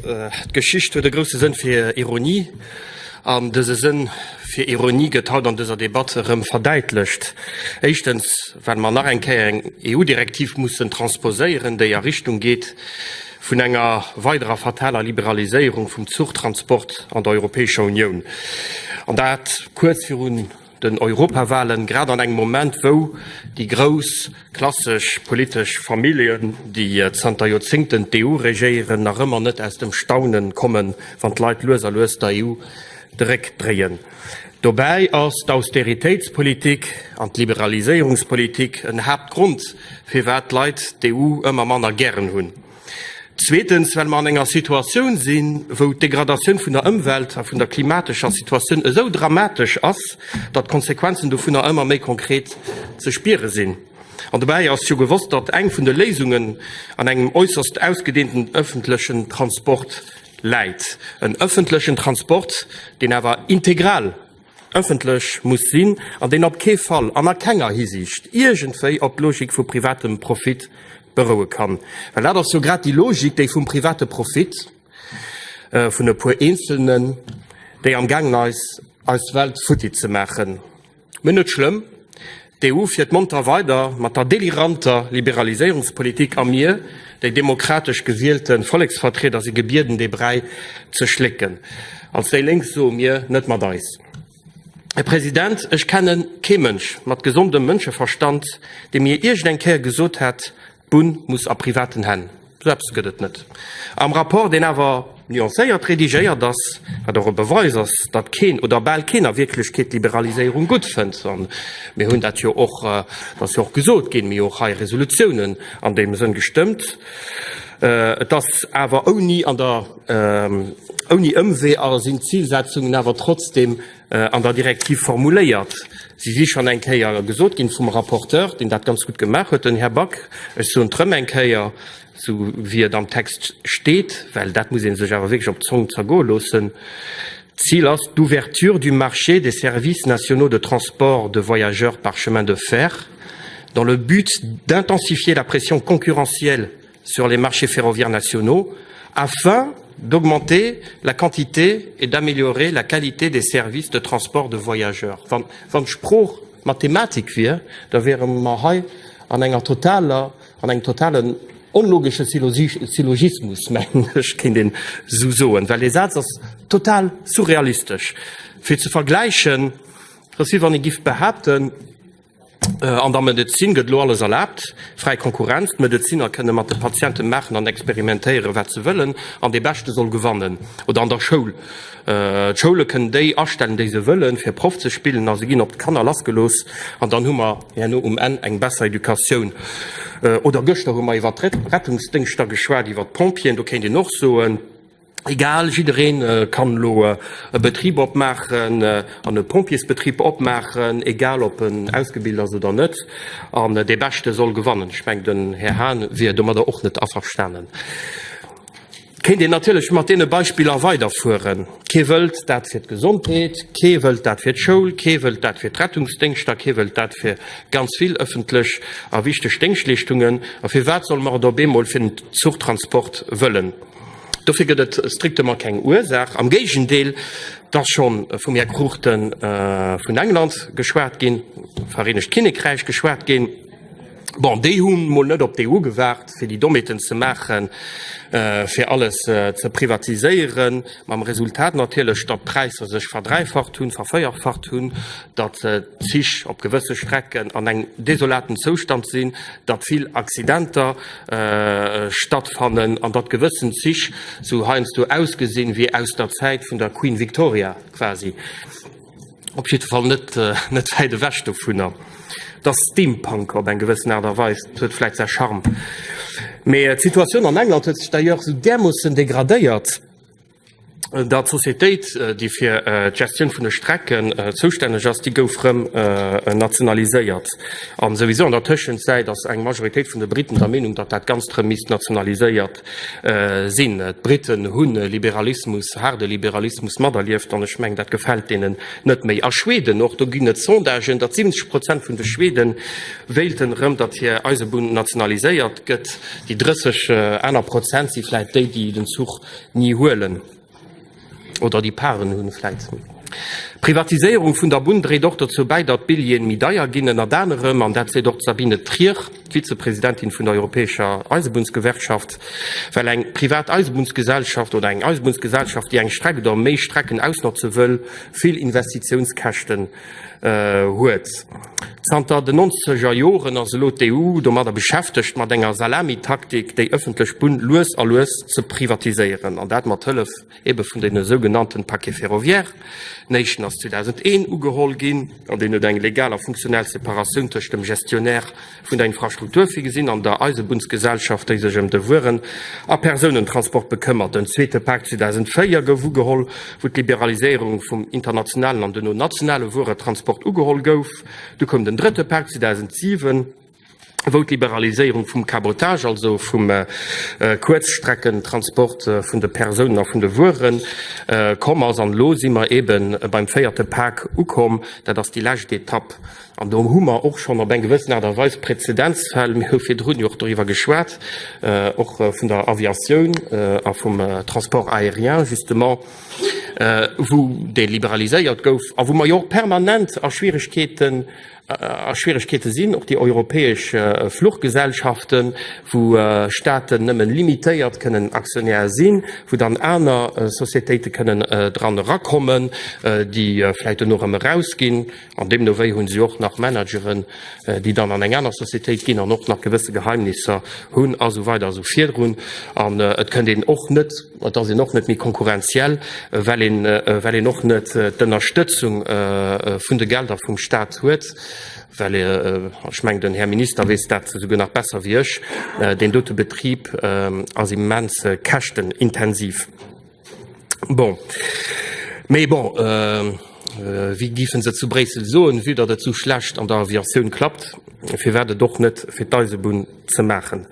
D'Geschicht huet e grousse Sënn fir Ironie, an dëse Sënn fir Ironie gëtt haut an dëser Debatt erëm verdäitlecht. Éischtens, well mer nach eng Kéier eng EU-Direktiv mussen transposéieren, déi a Richtung geet vun enger weiderer fataler Liberaliséierung vum Zuchtransport an der Europäescher Unioun, an dat kuerz virun den Europawahlen, grad an engem Moment, wou déi grouss klassesch politesch Familljen, déi zanter Joerzéngten d'EU regéieren, nach ëmmer net aus dem Staunen kommen, wann d'Leit lues a lues der EU de Réck dréien. Dobäi ass d'Austeritéitspolitik an d'Liberaliséierungspolitik en Haaptgrond, firwat d'Leit d'EU ëmmer manner gären hunn. Zweetens, well mer an enger Situatioun sinn, wou d'Degradatioun vun der Ëmwelt a vun der klimatescher Situatioun esou dramatesch ass, datt d'Konsequenzen dovunner ëmmer méi konkret ze spiere sinn. An dobäi ass jo gewosst, datt eng vun de Léisungen an engem äusserst ausgedeenten ëffentlechen Transport läit. En ëffentlechen Transport, deen awer integral ëffentlech muss sinn an deen op kee Fall an a kenger Hisiicht iergendwéi op d'Logik vu privatem Profit beroue kann, well dat ass jo grad déi Logik, déi vum private Profit vun e puer Eenzelnen, déi amgaangen ass, eis Welt futti ze maachen. Mee net schlëmm. D'EU fiert monter weider mat der deliranter Liberaliséierungspolitik a mir, déi demokratesch gewielte Volleksvertrieder, si gebieden, dee Bräi ze schlécken. Als déi Lénk soe mir, Net mat eis! Här President, ech kenne kee Mënsch mat gesondem Mënscheverstand, dee mir iergendeng Kéier gesot hätt, D'Bunn muss a privaten Hänn. Esou eppes gëtt et net am Rapport, deen awer nuancéiert redigéiert ass, wat och e Beweis ass, datt keen oder bal keen a Wierklechkeet d'Liberaliséierung gutt fënnt. An mir hunn dat jo och, et ass jo och gesot ginn, mir hu jo och hei Resolutiounen an deem Sënn gestëmmt. Et ass awer ouni an der, ouni Ëmwee a sinn d'Zilsetzungen awer trotzdeem äh, an der Direktiv formuléiert. Si si schon eng Kéier gesot ginn vum Rapporteur, den dat ganz gut gemaach huet, den Här Back. Ech soen d'rëm eng Kéier, sou wéi et am Text steet, well dat muss ee sech awer wierklech op d'Zong zergoe loossen. D'Zil ass d'Ouverture du marché des services nationaux de transport de voyageurs par chemin de fer dans le but d'intensifier la pression concurrentielle sur les marchés ferroviaires nationaux afin d'augmenter la quantité et d'améliorer la qualité des services de transport de voyageurs. Wann d'Sprooch Mathematik wier, da wiere mer hei an enger totaler, an engem totalen onlogesche Syllogismus, mengen ech, kéint een esou soen, well dee Saz ass total surrealistesch fir ze vergläichen, dass wéi wann ee giff behaapten, Äh, an der Medezin gëtt elo alles erlaabt, fräi Konkurrenz, d'Medeziner kënne mat de Patiente maachen an experimentéieren, wat se wëllen, an dee Beschte soll gewannen. Oder an der Schoul, äh, d'Schoule kënnen déi astellen, déi se wëllen, fir Proff ze spillen, a se ginn op d'Kanner lassgelooss, an dann hu mer herno um Enn eng besser Educatioun. Äh, oder gëschter hu mer iwwert d'Rettungsdéngschter geschwat, iwwert d'Pompjeeën, do kéint een och soen, Egal, jiddereen kann elo e Betrib opmaachen an e Pompjeesbetrib opmaachen, egal ob en ausgebilt ass oder net. An dee Beschte soll gewannen. Ech mengen, den Här Hahn wier domadder och net averstanen. Kéint een natierlech mat deene Beispiller weiderfueren. Kee wëllt dat fir d'Gesondheet, kee wëllt dat fir d'Schoul, kee wëllt dat fir d'Rettungsdéngschter, kee wëllt dat fir ganz vill ëffentlech a wichteg Déngschtleeschtungen. A firwat solle mer et op eemol fir den Zuchtransport wëllen? Dofir gëtt et strictement keng Ursaach. Am Géigendeel, et ass scho vum Här Cruchten vun England geschwat ginn, Vereenegt Kinnekräich geschwat ginn. Bon, déi hu mol net op d'EU gewaart, fir déi Dommheeten ze maachen, fir alles ze privatiséieren. Mam Resultat natierlech, datt d'Präisser sech verdräifacht hunn, verféierfacht hunn, datt d'Zich op gewësse Strecken an engem desolaten Zoustand sinn, datt vill Accidenter stattfannen an datt gewëssen Zich sou heiansdo ausgesinn wéi aus der Zäit vun der Queen Victoria quasi, op jiddwer Fall net net wäit ewech dovunner. Datt Steampunk op eng gewëssen Aart a Weis, dat huet vläit säi Charme. Mee d'Situatioun an England huet sech d'ailleurs sou därmoossen degradéiert, dat d'Societéit, déi fir d'Gestioun vun de Strecken zoustänneg ass, déi gouf rëm nationaliséiert. A souwisou an der Tëschenzäit ass eng Majoritéit vun de Briten der Meenung, datt dat Ganzt rëm misst nationaliséiert sinn. D'Briten hu Liberalismus, haarde Liberalismus materlieft an ech mengen, dat gefält deenen net méi. A Schweden och, do ginn et Sondagen, datt 70 Prozent vun de Schwede wéilten rëm, datt hir Eisebunn nationaliséiert gëtt. Déi 30 aner Prozent si vläicht déi, déi den Zuch ni huelen oder déi Parten hunn vläit. D'Privatiséierung vun der Bunn dréit och dozou bäi, datt d'Billjeeën méi deier ginn, ënnert anerem, an dat seet och d'Sabine Trier, d'Vizepresidentin vun der europäescher Eisebunnsgewerkschaft, well eng privat Eisebunnsgesellschaft oder eng Eisebunnsgesellschaft, déi eng Streck oder méi Strecken ausnotze wëll, vill Investitiounskäschten huet. Zanter den nonzeger Joren ass elo d'EU domadder beschäftegt, mat enger Salamitaktik déi ëffentlech Bunn lues a lues ze privatiséieren, an dat mat Hëllef ebe vun deene sougenannte Paquet ferroviaire. Den éischten ass 2001 ugeholl ginn an deen huet eng legal a funktionell Separatioun tëscht dem Gestionnaire, Vun der Infrastruktur, virgesinn an der Eisebunnsgesellschaft, déi sech ëm de Wueren a Persounentransport bekëmmert, den zweete Pak 2004 gouf ugeholl, wou d'Liberaliséierung vum internationalen an duerno nationale Wueretransport ugeholl gouf. Du koum den drëtte Pak 2007, wou d'Liberaliséierung vum Cabotage, also vum Kuerzstreckentransport vun de Persounen a vun de Wuere komm ass. An elo si mer eebe beim véierte Pak ukomm. Dat ass déi lescht Etapp. An do hu mer och schonn op eng gewëssen Aart a Weis Präzedenzfäll. Mir hu virdrun jo och doriwwer geschwat, och vun der Aviatioun a vum Transport aérien justement, wou dee liberaliséiert gouf a wou mer jo och permanent a Schwierigkeeten, a Schwierigkeete sinn. Och déi europäesch Fluchgesellschaften, wou Staaten nëmme limitéiert kënnen Aktionär sinn, wou dann aner Sociétéite kënnen dran erakommen, déi vläicht dono erëm erausginn. An deemno wéi hunn si och nach Manageren, déi dann an eng aner Societéit ginn an och nach gewësse Geheimnisser hunn a sou weider a sou virdrun. An et kënnt een och net, et ass een och net méi konkurrenziell, well een, well een och net d'Ënnerstëtzung vun de Gelder vum Stat huet, well, ech mengen, den Här Minister weess dat esouguer nach besser wéi ech, deen dote Betrib ass immens käschtenintensiv. Bon. Mee bon, euh, wéi gifen se zu Bréissel soen, vue datt et sou schlecht an der Aviatioun klappt, firwat et och net fir d'Eisebunn ze maachen?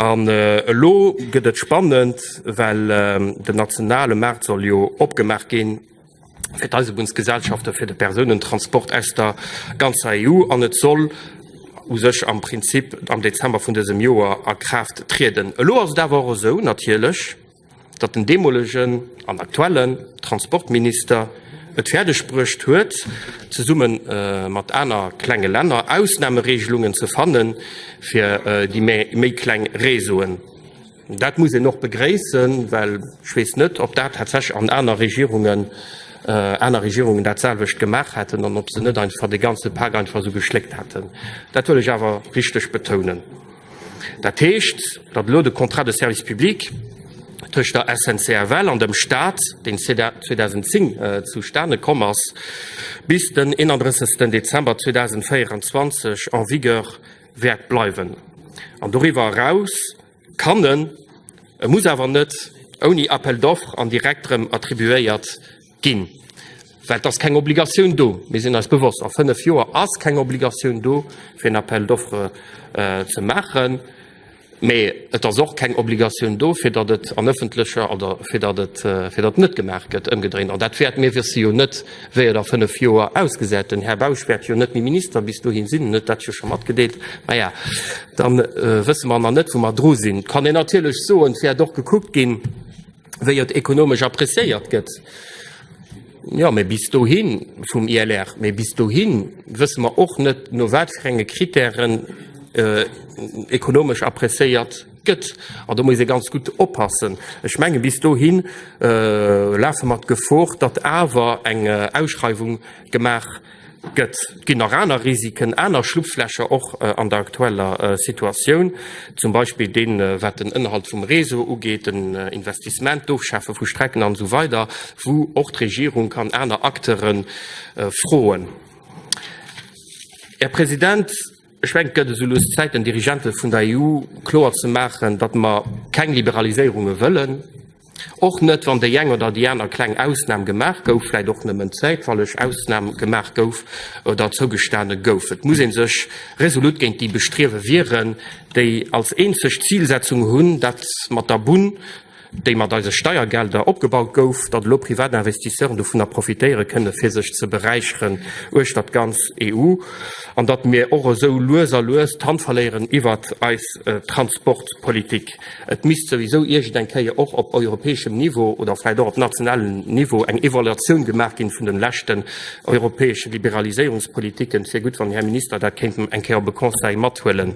An elo gëtt et spannend, well den nationale Maart soll jo opgemaach ginn fir d'Eisebunnsgesellschaften, fir de Persounentransport aus der ganzer EU, an et soll u sech am Prinzip am Dezember vun dësem Joer a Kraaft trieden. Elo ass et awer och esou natierlech, datt den deemolegen an aktuellen Transportminister et fäerdeg bruecht huet, zesumme mat aner klenge Länner Ausnahmeregelungen ze fanne fir déi méi kleng Réseauen. Dat muss een och begréissen, well ech weess net, ob dat tatsächlech an aner Regierungen, aner Regierungen datselwecht gemaach hätten an ob se net einfach de ganze Pak einfach esou geschléckt hätten. Dat wëll ech awer richteg betounen. Dat heescht, datt elo de Contrat de service public tëscht der SNCFL an dem Stat, deen 2010 zustane komm ass, bis den 31 Dezember 2024 en vigueur wäert bleiwen an doriwwer eraus kann en, e muss awer net, ouni Appel d'offres an direkt erëm attribuéiert. Ginn. Well et ass keng Obligatioun do. Mir sinn eis bewosst, a fënnef Joer ass keng Obligatioun do, fir en Appel d'offres ze maachen. Mä et ass och keng Obligatioun do, fir datt et an öffentlecher oder fir datt et, fir datt net gemaach gëtt, ëmgedréint. An dat wäert, mir wësse jo net, wéi et a fënnef Joer ausgesäit. Den Här Bausch wäert jo net méi Minister bis dohin sinn, en huet dat jo scho matgedeelt. Maja, da wësse mer nach net, wou mer dru sinn. Et kann een natierlech soen, et wäert och gekuckt ginn, wéi et ekonomesch appréciéiert gëtt. Jo, mee bis dohin, vum ILR, mee bis dohin wësse mer och net, no wat fir enge Kritären ekonomesch appréciéiert gëtt. An do muss ee ganz gutt oppassen. Ech menge bis dohin lafe mer d'Gefor, datt awer eng Ausschreiwung gemaach Gëtt, ginn nach aner Risiken, aner Schlupflächer och an der aktueller Situatioun, zum Beispill deen, wat den Ënnerhalt vum Réseau ugeet, den Investissement, d'Ofschafe vu Strecken an esou weider, wou och d'Regierung kann aner Acteure froen. Här President, Ech mengen, et gëtt esou lues Zäit den Dirigente vun der EU kloer ze maachen, datt mer keng Liberaliséierunge wëllen, och net wann déi eng oder déi aner kleng Ausnam gemaach gouf, vläicht och nëmmen zäitweileg Ausnam gemaach gouf oder zougestane gouf. Et muss ee sech resolut géint déi Bestriewe wieren, déi als eenzeg Zilsetzung hunn, dat mat der Bunn déi mat eise Steiergelder opgebaut gouf, datt elo privat Investisseuren dovunner profitéiere kënne fir sech ze beräicheren uechter d'ganz EU an datt mir och esou lues a lues d'Hand verléieren iwwert eis Transportpolitik. Et misst souwisou iergendeng Kéier och op europäeschem Niveau oder vläicht och op nationalem Niveau eng Evaluatioun gemaach ginn vun de leschten europäesche Liberaliséierungspolitiken. Et wier gutt, wann den Här Minister dat kéint eng Kéier op e Conseil mathuelen.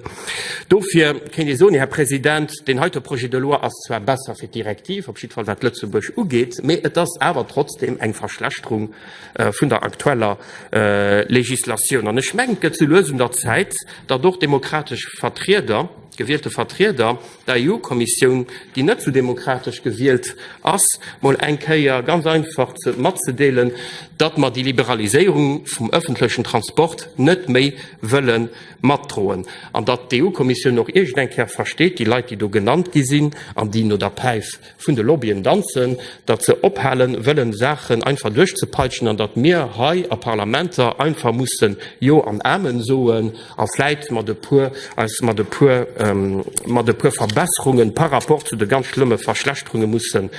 Dofir kéint ee soen, Här President, Deen heite Projet de loi ass zwar besser fir d'Direktiv, op jiddwer Fall wat Lëtzebuerg ugeet, mee et ass awer trotzdeem eng Verschlechterung vun der aktueller Legislatioun. An ech mengen, et gëtt sou lues un der Zäit, datt och demokratesch Vertrieder, gewielte Vertrieder der EU-Kommissioun, déi net sou demokratesch gewielt ass, mol eng Kéier ganz einfach matzedeelen, datt mer déi Liberaliséierung vum ëffentlechen Transport net méi wëlle matdroen an datt d'EU-Kommissioun och iergend eng Kéier versteet, déi Leit, déi do genannt gi sinn an déi no der Päif vun de Lobbyen danzen, datt se ophale wëllen, Saachen einfach duerchzepeitschen an datt mir hei a Parlamenter einfach mussen Jo an Amen soen a vläit mat e puer, eis mat e puer, mat e puer Verbesserunge par rapport zu de ganz schlëmme Verschlechterunge mussen,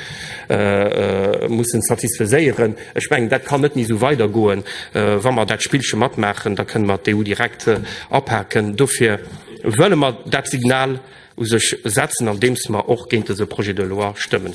mussen satisfaiséieren. Ech mengen, dat kann net méi esou weidergoen. Wa mer dat Spillche matmaachen, da kënne mer d'EU direkt apaken. Dofir wëlle mer dat Signal u sech setzen, andeems mer och géint dese Projet de loi stëmmen.